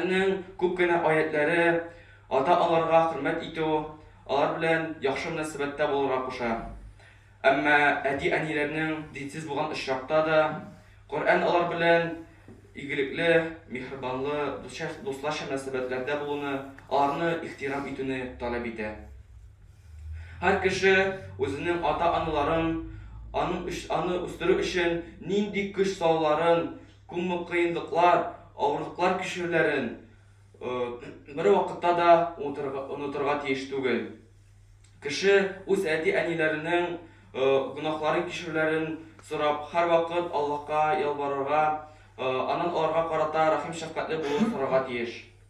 Коръәннең күп кенә аятьләре ата-аналарга хөрмәт итү, алар белән яхшы мөнәсәбәттә булырга куша. Әмма әти-әниләрнең динсез булган очракта да, Коръән алар белән игелекле, миһербанлы, дусларча мөнәсәбәтләрдә булуны, аларны ихтирам итүне таләп итә. Һәр кеше үзенең ата-аналарын, аны үстерү өчен нинди көч салуларын Күммык кыенлыклар, авырлыклар кичерүләрен бервакытта да онытырга тиеш түгел. Кеше үз әти-әниләренең гөнаһларын кичерүләрен сорап, һәрвакыт Аллаһка ялварырга, Аннан аларга карата рәхим-шәфкатьле булуын сорарга тиеш.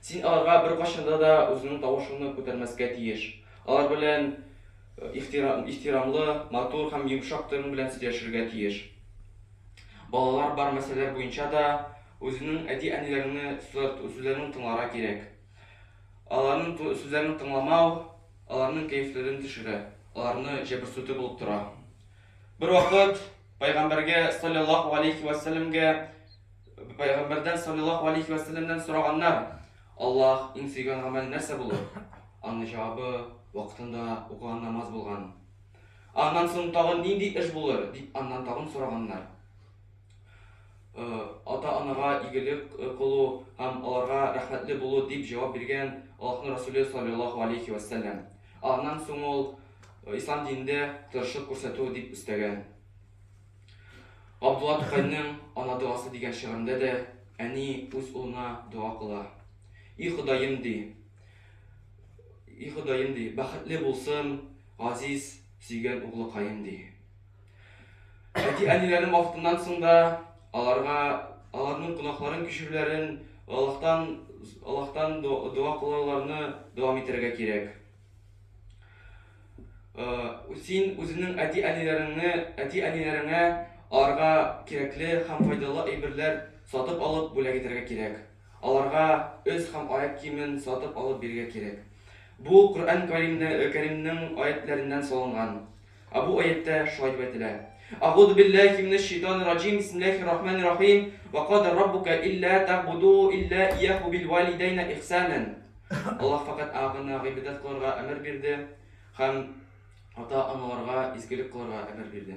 Син аларга беркайчанда да үзеңнең тавышыңны күтәрмәскә тиеш. Алар белән ихтирамлы, матур һәм йомшак тон белән сөйләшергә тиеш. Балалар бар мәсьәләләр буенча да үзеңнең әти-әниләреңне сорт сүзләрен тыңларга кирәк. Аларның ту сүзләрен тыңламау аларның кәефләрен төшерә, аларны җәберсүтү булып тора. Бервакыт Пәйгамбәргә салләллаһу галәйһи вә сәлләмгә Пәйгамбәрдән саллиллаху алейхи вә сәлләмнән сораганнар, Аллаһ иң сөйгән гамәл нәрсә булыр? Аның җавабы вакытында укыган намаз булган. Аннан соң тагын нинди эш булыр, дип аннан тагын сораганнар. Э, ата-анага игелек э, кылу һәм аларга рәхмәтле булу, дип җавап биргән Аллаһның Расуле саллиллаху алейхи вә сәлләм. Аннан соң ул э, ислам динендә тырышлык күрсәтү дип өстәгән. Габдулла Тукайның Ана догасы дигән шигырендә дә әни үз улына дога кыла. И Ходаем, ди. И Ходаем, ди, бәхетле булсын газиз, сөйгән углыкаем, ди. Әти-әниләрнең вафатыннан соң да аларга, аларның гөнаһларын кичерүләрен, Аллаһтан, Аллаһтан дога кылуларны дәвам итәргә кирәк. Син үзеңнең әти-әниләреңне, әти-әниләреңә аларга кирәкле һәм файдалы әйберләр сатып алып бүләк итәргә кирәк. Аларга өс һәм аяк киемен сатып алып бирергә кирәк. Бу Коръән Кәримнең аятьләреннән салынган. Ә бу аятьтә шулай дип әйтелә. Агуду билләхи минәш шәйтанир раҗим, бисмилләхир рахманир рахим, вә када раббука илля тәгъбуду илля ияһу бил вәлидәйнә ихсанән. Аллаһ фәкать Аңа гына гыйбадәт кылырга әмер бирде һәм ата-аналарга изгелек кылырга әмер бирде.